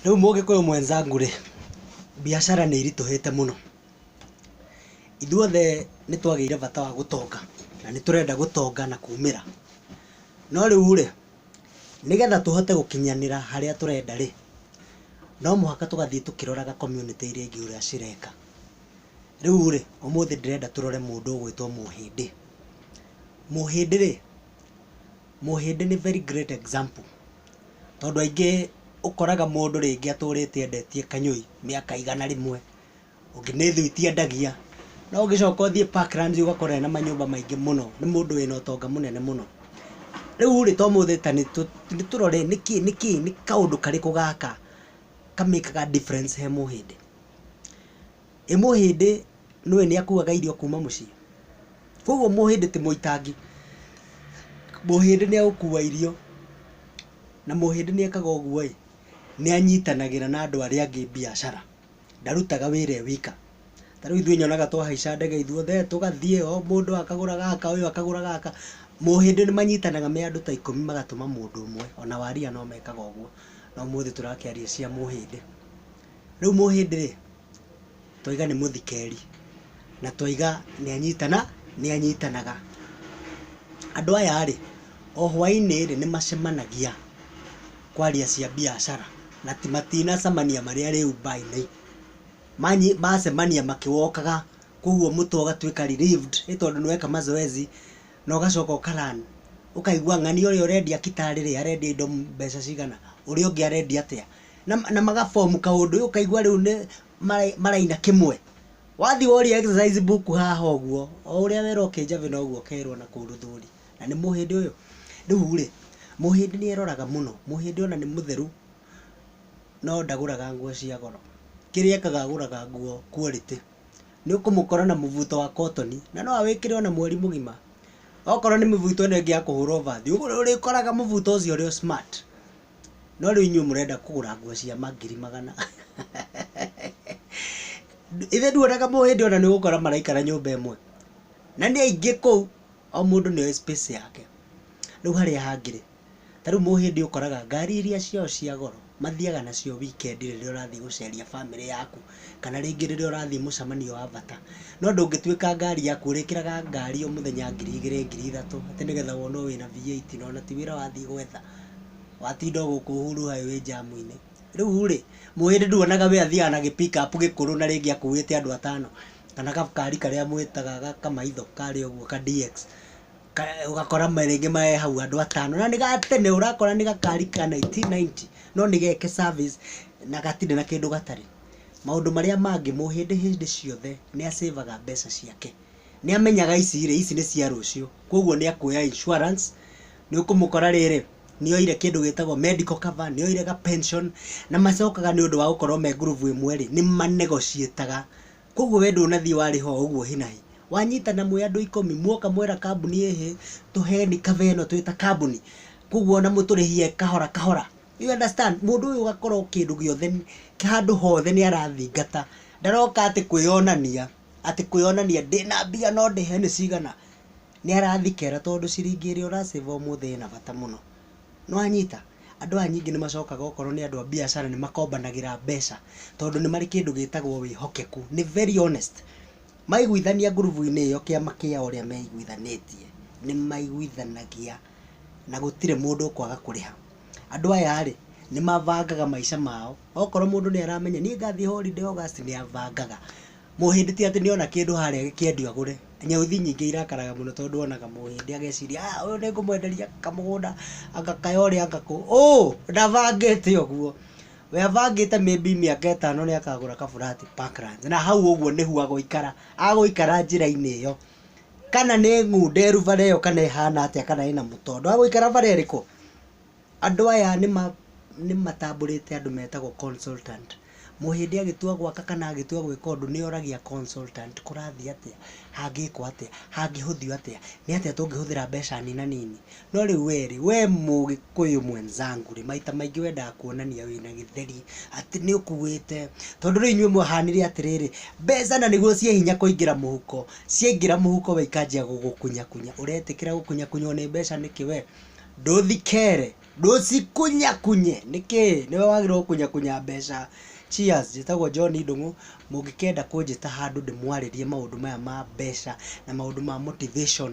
Rĩu mũgĩkũyũ mwenzangu rĩ, mbiacara nĩ iritũhĩte mũno. Ithuothe nĩ twagĩire bata wa gũtonga na nĩ tũrenda gũtonga na kumĩra. No rĩu rĩ, nĩgetha tũhote gũkinyanĩra harĩa tũrenda rĩ, no mũhaka tũgathiĩ tũkĩroraga community iria ingĩ ũrĩa cireka. Rĩu rĩ, ũmũthĩ ndĩrenda tũrore mũndũ ũgwĩtwo Mũhĩndĩ. Mũhĩndĩ rĩ... Mũhĩndĩ nĩ very great example tondũ aingĩ ũkoraga mũndũ rĩngĩ atũrĩte endetie kanyũi mĩaka igana rĩmwe, ũngĩ nĩ thwiti endagia, no ũngĩcoka ũthiĩ Parklands ũgakora ena manyũmba maingĩ mũno, nĩ mũndũ wĩna ũtonga mũnene mũno. Rĩurĩ, ta ũmũthĩ ta nĩtũrore nĩkĩ nĩkĩ nĩ kaũndũ karĩkũ gaka ka make aga difference he Mũhĩndĩ? Ĩ mũhĩndĩ nĩũĩ nĩakuaga irio kuma mũciĩ? Koguo mũhĩndĩ ti mũitangi. Mũhĩndĩ nĩegũkua irio, na mũhĩndĩ nĩekaga ũguo-ĩ, nĩanyitanagĩra na andũ arĩa angĩ mbiacara, ndarutaga wĩra e wika. Ta rĩu ithuĩ nyonaga twahaica ndege ithuothe tũgathiĩ, o mũndũ akagũra gaka, ũyũ akagũra gaka. Mũhĩndĩ nĩmanyitanaga me andũ ta ikũmi magatũma mũndũ ũmwe, ona Waria nomekaga ũguo, no ũmũthĩ tũrakĩaria cia mũhĩndĩ. Rĩu mũhĩndĩ rĩ, twaiga nĩ mũthikeri, na twaiga nĩ anyitana, nĩ anyitanaga. Andũ aya rĩ, o hwainĩ rĩ, nĩ macemanagia kwaria cia mbiacara, na matinacemania marĩ arĩ nyũmba-inĩ. Macemania makĩ walk aga, kũguo mũtwe ũgatuĩka relieved nĩ tondũ nĩ weka mazoezi, na ũgacoka ũka learn. Ũkaigua ng'ania ũrĩa ũrendia kita rĩ, arendia indo mbeca cigana, ũrĩa ũngĩ arendia atĩa. na, na magabomu kaũndũ rĩu ũkaigua rĩu nĩ mara- maraina kĩmwe wathi woria exercise book haha ũguo o ũrĩa wera ũkĩnjavĩ noguo ũkerwo na kũu rũthũri na nĩ mũhĩndĩ ũyũ rĩu rĩ mũhĩndĩ nĩ eroraga mũno mũhĩndĩ ona nĩ mũtheru no ndagũraga nguo cia goro kĩrĩa ekaga agũraga nguo quality nĩ ũkũmũkora na mũbuto wa cotton na no awĩkĩre ona mweri mũgima okorwo nĩ mĩbuto ĩno ĩngĩ ya kũhũrwo bathi ũrĩkoraga mũbuto ũcio ũrĩ o smart No rĩu inyuĩ mũrenda kũgũra nguo cia mangiri magana. Ithe nduonaga mũndũ hĩndĩ ona nĩ ũgũkora maraikara nyũmba ĩmwe. Na nĩ aingĩ kũu, o mũndũ nĩ oĩ space yake. Rĩu harĩa hangĩ rĩ, ta rĩu mũndũ hĩndĩ ũkoraga ngari iria ciao cia goro, mathiaga nacio weekend rĩrĩa ũrathiĩ gũceria bamĩrĩ yaku, kana rĩngĩ rĩrĩa ũrathiĩ mũcemanio wa bata. No ndũngĩtuĩka ngari yaku ũrĩkĩraga ngari o mũthenya ngiri igĩrĩ ngiri ithatũ, atĩ nĩgetha wone o wĩna V8 na ona ti wĩra wathiĩ gwetha. watinda o gũkũ Uhuru Highway njamu-inĩ. Rĩu rĩ, mũhĩndĩ nduonaga we athiaga na gĩ pick up gĩkũrũ na rĩngĩ akuĩte andũ atano, kana gakari karĩa mwĩtaga ga kamaitho karĩa ũguo ka DX, ũgakora rĩngĩ me hau andũ atano, na nĩ ga tene ũrakora nĩ gakari ka nineteen ninety no nĩ geke service na gatirĩ na kĩndũ gatarĩ. Maũndũ marĩa mangĩ, mũhĩndĩ hĩndĩ ciothe nĩ a save aga mbeca ciake. nĩamenyaga ici rĩ, ici nĩ cia rũciũ, koguo nĩakuoya insurance, nĩũkũmũkora rĩrĩ, nĩoire kĩndũ gĩtagwo medical cover, nĩoire ga pension, na macokaga nĩũndũ wa gũkorwo me ngurubu ĩmwe rĩ, nĩma negotiate aga, koguo we ndũnathiĩ warĩha o ũguo hi na hi, wanyitana mwĩ andũ ikũmi, mwoka mwera kambuni ĩhĩ, tũheni cover ĩno twĩ ta kambuni, koguo ona mũtũrĩhie kahora kahora, you understand, mũndũ ũyũ ũgakorwo kĩndũ gĩothe handũ hothe nĩarathingata, ndaroka atĩ kwĩyonania. atĩ kwĩyonania ndĩna mbia no ndĩhe nĩ cigana, nĩ arathikera tondũ ciringi ĩrĩa ũra save ũmũthĩ ĩna bata mũno. Nĩ wanyita? Andũ aya ningĩ nĩ macokaga okorwo nĩ andũ a biacara nĩ makombanagĩra mbeca tondũ nĩ marĩ kĩndũ gĩtagwo wĩhokeku. Nĩ very honest. Maiguithania ngurubu-inĩ ĩyo kĩama kĩa ũrĩa meiguithanĩtie, nĩ maiguithanagia na gũtirĩ mũndũ ũkwaga kũrĩha. Andũ aya rĩ, nĩ mabangaga maica mao. Okorwo mũndũ nĩ aramenya niĩ ngathiĩ holiday August, nĩ abangaga. Mũhĩndĩ ti atĩ nĩ ona kĩndũ harĩa gĩkĩendio agũre. Nyauthi nyingĩ irakaraga mũno tondũ onaga mũhĩndĩ ageciria ah ũyũ nĩ ngũmwenderia kamũgũnda anga kaya ũrĩa anga kũ. Ũ! Ndabangĩte ũguo. We abangĩte maybe mĩaka ĩtano nĩ akagũra ka flat Parklands na hau ũguo nĩho agũikara. Agũikara njĩra-inĩ ĩyo. kana nĩ ngunderu bara ĩyo kana ĩhana atĩa kana ĩna mũtondo wa gũikara bara ĩrĩkũ, andũ aya nĩmatambũrĩte andũ metagwo consultant. Mũhĩndĩ agĩtua gwaka kana agĩtua gwĩka ũndũ nĩoragia consultant kũrathiĩ atĩa, hangĩkwo atĩa, hangĩhũthio atĩa, nĩ atĩa tũngĩhũthĩra mbeca nina nini, No rĩu we rĩ, we mũgĩkũyũ mwenzangu rĩ, maita maingĩ wendaga kuonania wĩna gĩtheri, atĩ nĩ ũkuĩte, tondũ rĩu inyuĩ mũhanire atĩrĩrĩ, mbeca na nĩguo ciĩ hinya kũingĩra mũhuko, ciaingĩra mũhuko we ikanjia gũgũkunyakunya, ũretĩkĩra gũkunyakunywo nĩ mbeca nĩkĩ we? Ndũthi kere, ndũcikunyakunye, nĩkĩ? Nĩwe wagĩrĩirwo gũkunyakunya mbeca. Cheers, njĩtagwo John Ndung'u, mũngĩkenda kũnjĩta handũ ndĩmwarĩrie maũndũ maya ma mbeca na maũndũ ma motivation,